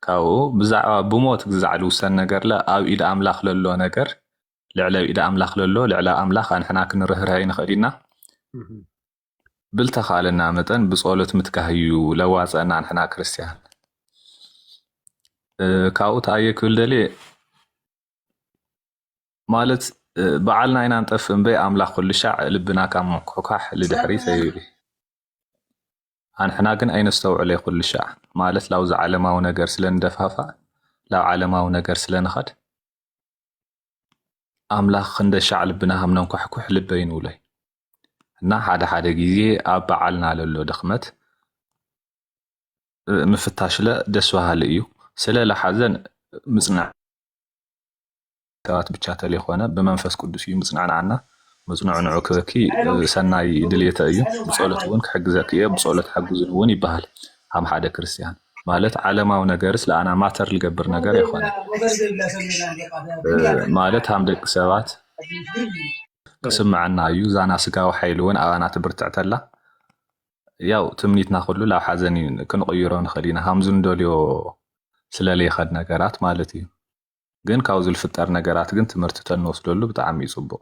Speaker 6: ካብኡ ብዛዕባ ብሞት ግዛዕ ልውሰን ነገርለ ኣብ ኢድ ኣምላኽ ለሎ ነገር ልዕለ ኣብ ኢድ ኣምላኽ ለሎ ልዕሊ ኣብ ኣምላኽ ኣንሕና ክንርህርህ ኣይንኽእል ኢና ብልተኻለና መጠን ብጸሎት ምትካህ እዩ ለዋጸና ኣንሕና ክርስትያን ካብኡ ተኣየ ክብል ደልየ ማለት በዓልና ኢና ንጠፍ እምበይ ኣምላኽ ኩሉ ሻዕ ልብና ካብ ምኩሕኳሕ ልድሕሪ ተይብል ኣንሕና ግን ኣይነስተውዕለ ኩሉ ሻዕ ማለት ላብዚ ዓለማዊ ነገር ስለ ንደፋፋእ ላብ ዓለማዊ ነገር ስለ ንኸድ ኣምላኽ ክንደሻዕ ልብና ከም ነንኳሕኩሕ ልበይ ንብሎይ እና ሓደ ሓደ ግዜ ኣብ በዓልና ለሎ ድኽመት ምፍታሽለ ደስ በሃሊ እዩ ስለ ለሓዘን ምፅናዕ ሰባት ብቻ ተለይኮነ ብመንፈስ ቅዱስ እዩ ምፅናዕናዕና መጽንዕንዑ ክበኪ ሰናይ ድልየተ እዩ፣ ብጸሎት እውን ክሕግዘኪ እየ፣ ብጸሎት ሓግዙኒ እውን ይበሃል ሃም ሓደ ክርስቲያን። ማለት ዓለማዊ ነገርስ ለኣና ማተር ልገብር ነገር ኣይኮነን። ማለት ሃም ደቂ ሰባት ክስምዐና እዩ፣ ዛና ስጋዊ ሓይሊ እውን ኣባና ትብርትዕ ተላ ያው ትምኒትና ኩሉ ላብ ሓዘን ክንቕይሮ ንኽእል ኢና ሃምዚ ንደልዮ ስለለይኸድ ነገራት ማለት እዩ። ግን ካብዚ ዝልፍጠር ነገራት ግን ትምህርቲ ተንወስደሉ ብጣዕሚ እዩ ፅቡቅ።